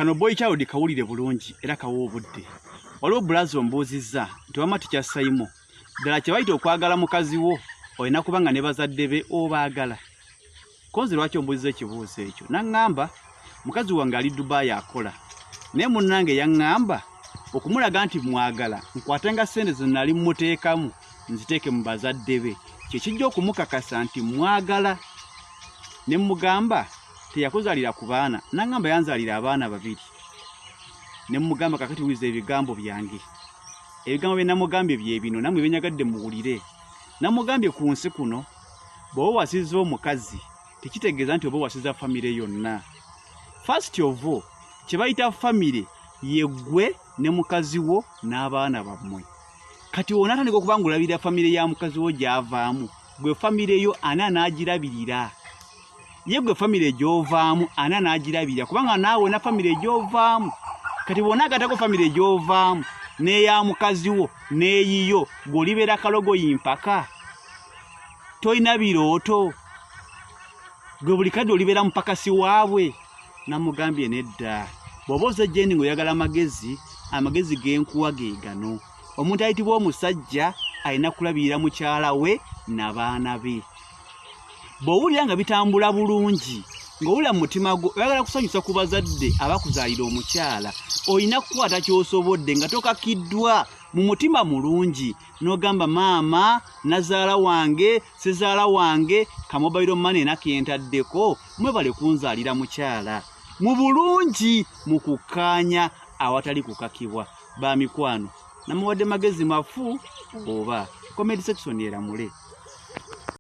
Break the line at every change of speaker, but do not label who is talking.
kano boy child kawulire bulungi era kawa obudde waliwo bulazi ombuuzizza nti wama tikyassayimo ddala kyebayita okwagala mukazi wo olina kuba nga ne bazadde be obaagala konzi lwaki ombuuziza ekibuuzo ekyo naŋŋamba mukazi wange ali dubaayi akola naye munnange yaŋŋamba okumulaga nti mwagala nkwate nga ssente ze nali mmuteekamu nziteeke mu bazadde be kyekijja okumukakasa nti mwagala ne mmugamba teyakuzalira ku baana nangamba yanzalira abaana babiri nemugamba kakati wiza ebigambo byange ebigambo bye namugambye byebino namwe benyagadde muwulire namugambye ku nsi kuno bwoba wasiza omukazi tekitegeeza nti oba wasiza famire yonna fast ovo kyebayita famire yegwe ne mukazi wo n'abaana bammwe kati wona atandika okuba ngaolabirira famire ya mukazi wo gyavaamu gwe famire yo ani anaagirabirira ye gwe famire egyovaamu ana n'agirabira kubanga naawe na famire egyovaamu kati bwona agatako famire egyovaamu n'eya mukazi wo n'eyiyo gw'olibeera kalogoyi mpaka tolina birooto gwe buli kadde olibeera mupakasi waabwe namugambye nedda bw'oba oze jendi ng'oyagala amagezi amagezi g'enkuwa ge gano omuntu ayitibwa omusajja alina kulabirira mukyala we nabaana be bw'owulira nga bitambula bulungi ng'owulira mu mutima gwo oyagala kusanyusa ku bazadde abakuzaalira omukyala olina kukwata ky'osobodde nga tokakiddwa mu mutima mulungi n'ogamba maama nazaala wange sizaala wange kamobayiro mane enakentaddeko mwebale kunzaalira mukyala mu bulungi mu kukkaanya awatali kukakibwa ba mikwano namuwadde magezi mafu oba comedi section eramule